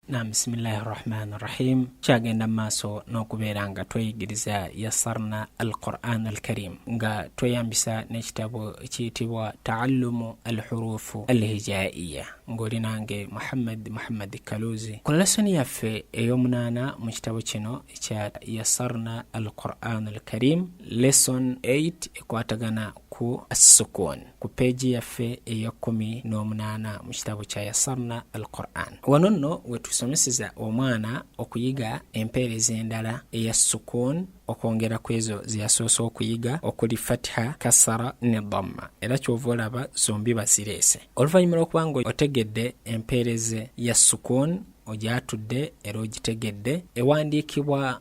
na bisimillahi rahmani rahim kyagenda mu maaso n'okubeera nga tweyigiriza yasarna al quran al karim nga tweyambisa n'ekitabo ekiyitibwa taallumu al hurufu al hijaiya ng'oli nange muhammad muhammad kaluzi ku lesoni yaffe ey'omunaana mu kitabo kino ekya yasarna al quran al karim lesson 8 ekwatagana ku assukun ku peegi yaffe ey'ekkumi n'omunaana mu kitabo kya yasarna al quran wano nno wetusomeseza omwana okuyiga empeereza endala eya sukun okwongera ku ezo zeyasoose okuyiga okuli fatiha kasara ne dhamma era kyova olaba zombi bazireese oluvannyuma lwokuba nga otegedde empeereze ya sukun ogyatudde era ogitegedde ewandiikibwa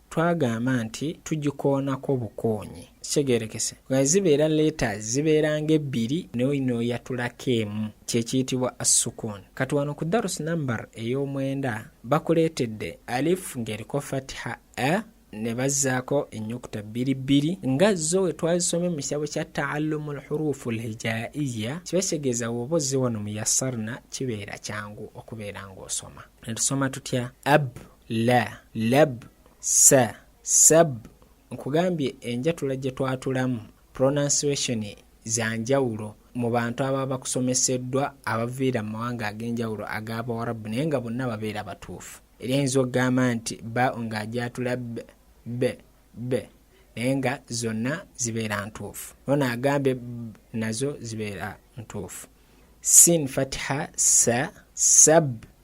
twagamba nti tugikoonako bukoonyi kitegerekese nga zibeera leeta zibeera nga ebbiri noyino yatulako emu kyekiyitibwa assukun kati wano ku darus number ey'omwenda bakuleetedde alif ng'eriko fatiha a e, ne bazzaako ennyukuta bbiri bbiri nga zo we twazisomye mu kitabo kya taallumu lhuruufu lhijaiya kiba kitegeeza woba ozze wano mu yasarna kibeera kyangu okubeera ng'osoma ne tusoma tutya ab la lab sa sab nkugambye enjatula gye twatulamu pronunciation za njawulo mu bantu ababa bakusomeseddwa abaviira mu mawanga ag'enjawulo ag'abawarabu naye nga bonna babeera batuufu era eyinza okugamba nti ba ng'agyatula b b b naye nga zonna zibeera ntuufu nona agambe nazo zibeera ntuufu sin fatiha sa sab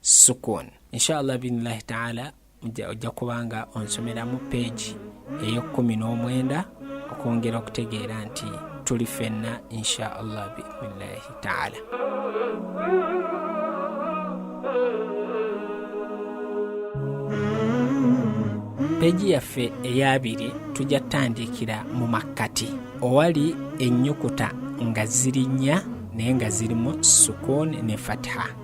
sukun inshallah binillahi taala ojja kubanga onsomeramu peegi ey'ekkumi n'omwenda okwongera okutegeera nti tuli fenna insha allah biidnillahi taala peegi yaffe eyabiri tujja tutandiikira mu makkati owali ennyukuta nga ziri nnya naye nga zirimu sukuuni ne fatiha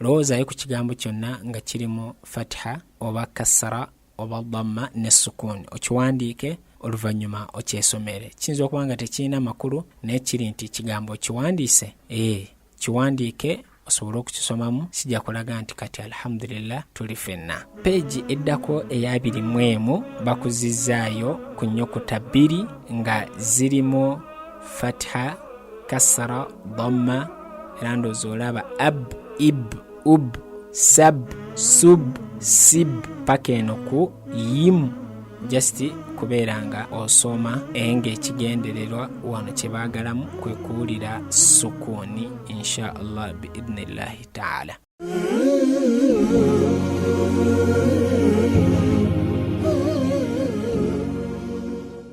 lowoozayo ku kigambo kyonna nga kirimu fatiha oba kassara oba damma ne sukuuni okiwandiike oluvannyuma okyesomere kiyinza okuba nga tekirina makulu naye kiri nti kigambo okiwandiise ee kiwandiike osobole okukisomamu kijja kulaga nti kati alhamdulillah tuli fenna peegi eddako eyabiri mu emu bakuzizzaayo ku nnyukuta bbiri nga zirimu fatiha kasara dhamma era ndoozi olaba ab ib ub sab sub sib paka eno ku yimu just kubeera nga osoma enga ekigendererwa wano kyebaagalamu kwe kuwulira sukuuni insha allah biidnillahi taala